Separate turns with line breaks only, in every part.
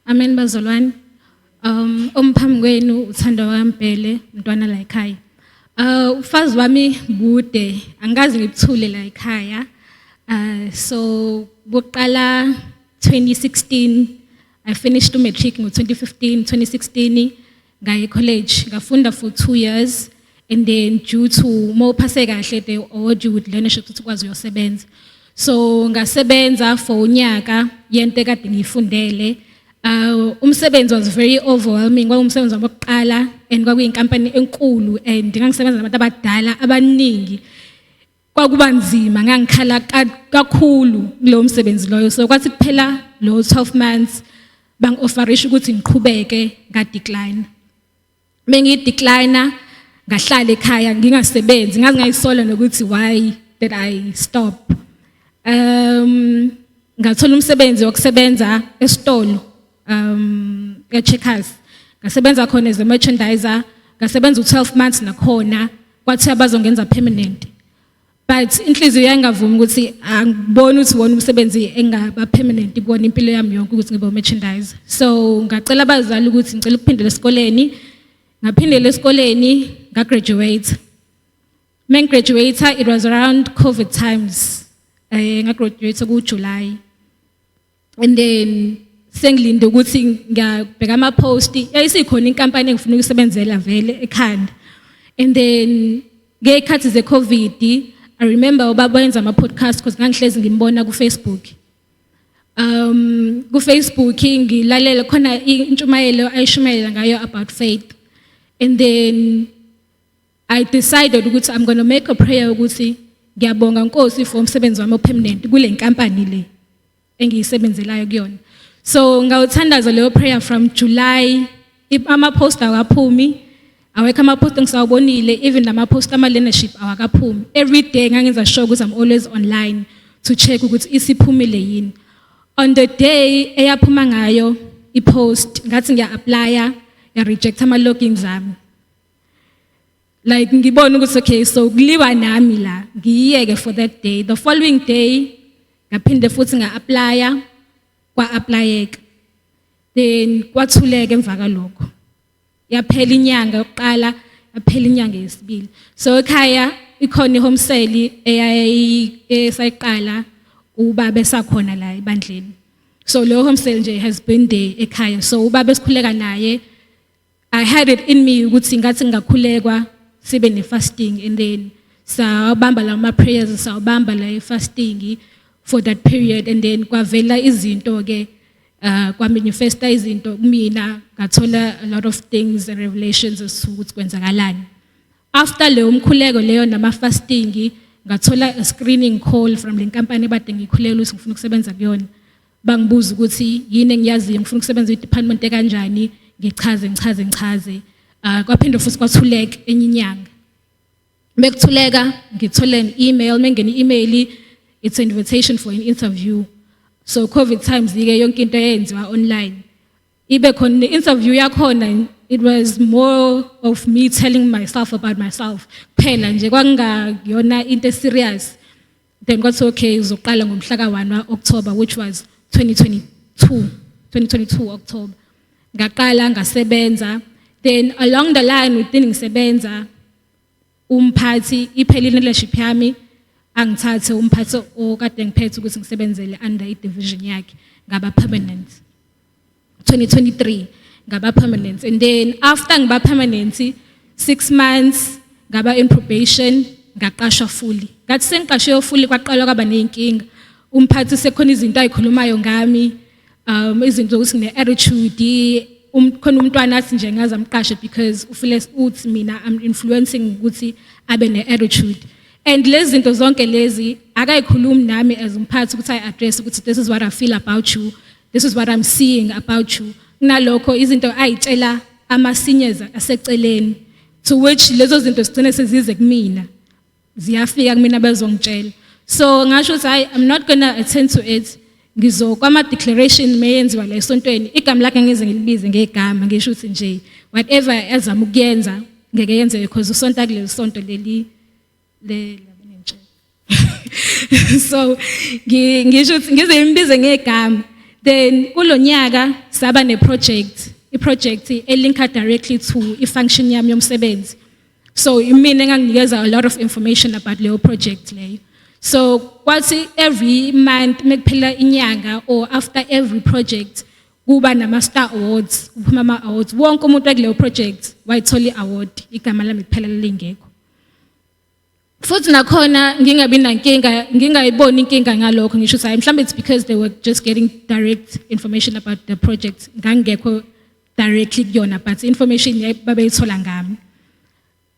Amen bazalwane. Um omphambi kwenu uthando wakaMbhele mntwana la ekhaya. Uh ufazi wami bude angikaze ngikuthule la ekhaya. Uh so kuqala 2016 I finished u matric ngo 2015 2016 ngaye college ngafunda for two years and then due to uma uphase kahle they award you with learnership ukuthi ukwazi uyosebenza so ngasebenza for unyaka yento ekade ngiyifundele uh, umsebenzi was very overwhelming kwakungumsebenzi wabokuqala and kwakuyinkampani enkulu and ngangisebenza nabantu abadala abaningi kwakuba nzima ngangikhala kakhulu kulowo msebenzi loyo so kwathi kuphela lo 12 months bangi-offerisha ukuthi ngiqhubeke ngadecline mengideclina ngahlala ekhaya ngingasebenzi ngazi ngayisola nokuthi why did i stop um ngathola umsebenzi wokusebenza esitolo um eCheckers ngasebenza khona as a merchandiser ngasebenza u12 months nakhona kwathi abazongenza permanent but inhliziyo yayingavumi ukuthi angiboni ukuthi wona umsebenzi engaba permanent kuwona impilo yami yonke ukuthi ngibe merchandiser so ngacela abazali ukuthi ngicela ukuphindela esikoleni ngaphindela esikoleni ngagraduate When graduate, it was around COVID times. Eh, ngagraduate ku-July. and then sengilinde ukuthi ngiyabheka ama post yayisikhona inkampani engifuna ukusebenzela vele ekhanda and then ngekhathi ze covid i remember ubaba wenza ama podcast because ngangihlezi ngimbona ku Facebook um ku Facebook ngilalela khona intshumayelo ayishumayela ngayo about faith and then I decided ukuthi I'm going to make a prayer ukuthi ngiyabonga Nkosi for umsebenzi wami opermanent kule nkampani le engiyisebenzelayo kuyona. So ngawuthandaza leyo prayer from July ama post akaphumi awekho ama post engisawubonile even lama post ama leadership awakaphumi. Every day ngangenza sure ukuthi I'm always online to check ukuthi isiphumile yini. On the day eyaphuma ngayo ipost ngathi ngiya applya ya reject ama logins ami. like ngibona ukuthi okay so kuliwa nami la ngiyiyeke for that day the following day ngaphinde futhi nga-aplaya kwa-aplayeka then kwathuleka emva kalokho yaphela inyanga yokuqala yaphela inyanga yesibili so ekhaya ikhona i-home sale esayiqala ubaba esakhona la ebandleni so leyo home sale nje has been there ekhaya so ubaba esikhuleka naye I had it in me ukuthi ngathi ngakhulekwa sibe ne fasting and then sawabamba la ma prayers sawabamba la fasting for that period and then kwavela izinto ke uh kwa manifesta izinto kumina ngathola a lot of things and revelations ukuthi kwenzakalani after leyo mkhuleko leyo nama fasting ngathola a screening call from le nkampani ebade ngikhulela ukuthi ngifuna ukusebenza kuyona bangibuza ukuthi yini engiyaziyo ngifuna ukusebenza kwi-department ekanjani ngichaze ngichaze ngichaze uh, kwaphinde futhi kwathuleka enye inyanga bekuthuleka ngithole i-email mengene i-email it's an invitation for an interview so covid times ike yonke into eyenziwa online ibe khona ne-interview yakhona it was more of me telling myself about myself kuphela nje kwakungayona into eserious then kwathiwa okay uzoqala ngomhla ka-1 wa-october which was 2022 2022 october ngaqala ngasebenza then along the line within ngisebenza umphathi iphelile leadership yami angithathe umphathi okade ngiphethe ukuthi ngisebenzele under i-division yakhe ngaba permanent 2023 ngaba permanent and then after ngiba permanent 6 months ngaba in probation ngaqashwa fully ngathi sengiqashwe fully kwaqala kwaba nezinkinga umphathi sekhona izinto ayikhulumayo ngami um izinto ukuthi ngine attitude khona umntwana athi nje ngaze amqashe because ufile uthi mina am influencing ukuthi abe ne attitude and lezi zinto zonke lezi akayikhulumi nami as umphathi ukuthi i address ukuthi this is what i feel about you This is what I'm seeing about you. Kunalokho izinto ayitshela amasinyeza aseceleni to which lezo zinto sigcine sezize kumina. Ziyafika kumina bezongitshela. So ngasho ukuthi hayi I'm not going to attend to it. Ngizokwama declaration meyenziwa la esontweni. Igama lakhe ngeze ngilibize ngegama ngisho ukuthi nje whatever azama ukuyenza ngeke yenzeke because usonta kuleli sonto leli le so ngisho ngize imbize ngegama then kulonyaka saba ne project i project elinka directly to i function yami yomsebenzi so imina enganginikeza a lot of information about leyo project leyo so kwathi every month mekuphela inyanga or after every project kuba nama-star awards kuphuma ama-awards wonke umuntu wakuleyo project wayithola i-award igama lami kuphela lingekho futhi nakhona ngingabi nankinga ngingayiboni inkinga ngalokho ngisho ukuthi hayi mhlawumbe it's because they were just getting direct information about the project ngangekho directly kuyona but information babeyithola ngami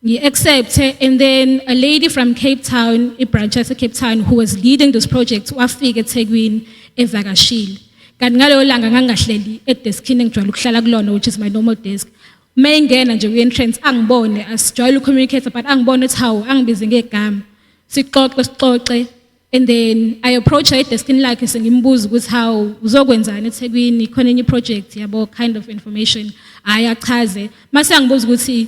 ngi-accept and then a lady from cape town ibranch yasecape town who was leading this project wafika ethekwini evakashile kanti ngaleyo langa ngangingahleli edeskini engijwayele ukuhlala kulona which is my normal desk uma engena nje kwi-entrance angibone asijwayele ucommunicate but angibone ukuthi hawu angibize ngegama sixoxe sixoxe and then i approach her edeskini lakhe sengimbuza ukuthi hawu uzokwenzani ethekwini khona enye iproject yabo kind of information hhayi achaze mase angibuza ukuthi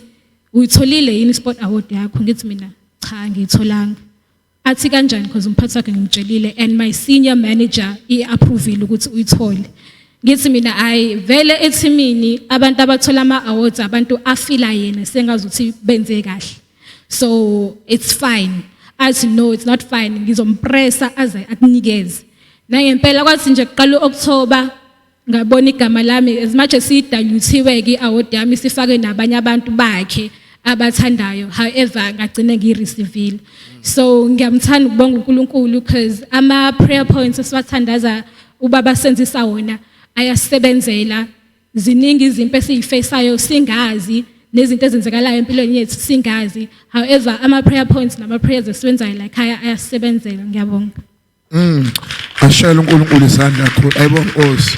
uyitholile yini i-sport award yakho ngithi mina cha ngiyitholanga athi kanjani because umphathi wakhe ngimtshelile and my senior manager i-approvile ukuthi uyithole ngithi mina hayi vele ethimini abantu abathola ama-awards abantu afila yena sengazuthi benze kahle so it's fine athi no it's not fine ngizompressa aze akunikeze nangempela kwathi nje kuqala u-okthoba ngabona igama lami as much as sidaluthiwe ke award yami sifake nabanye abantu bakhe abathandayo however ngagcine ngiyireceiveile so ngiyamthanda ukubonga uNkulunkulu because ama prayer points esiwathandaza ubaba senzisa wona ayasebenzela ziningi izimpi esizifesayo singazi nezinto ezenzekalayo empilweni yethu singazi however ama prayer points nama prayers esiwenzayo la ekhaya ayasebenzela
ngiyabonga
Mm.
Ashayela uNkulunkulu isandla
khona.
Ayibonkosi.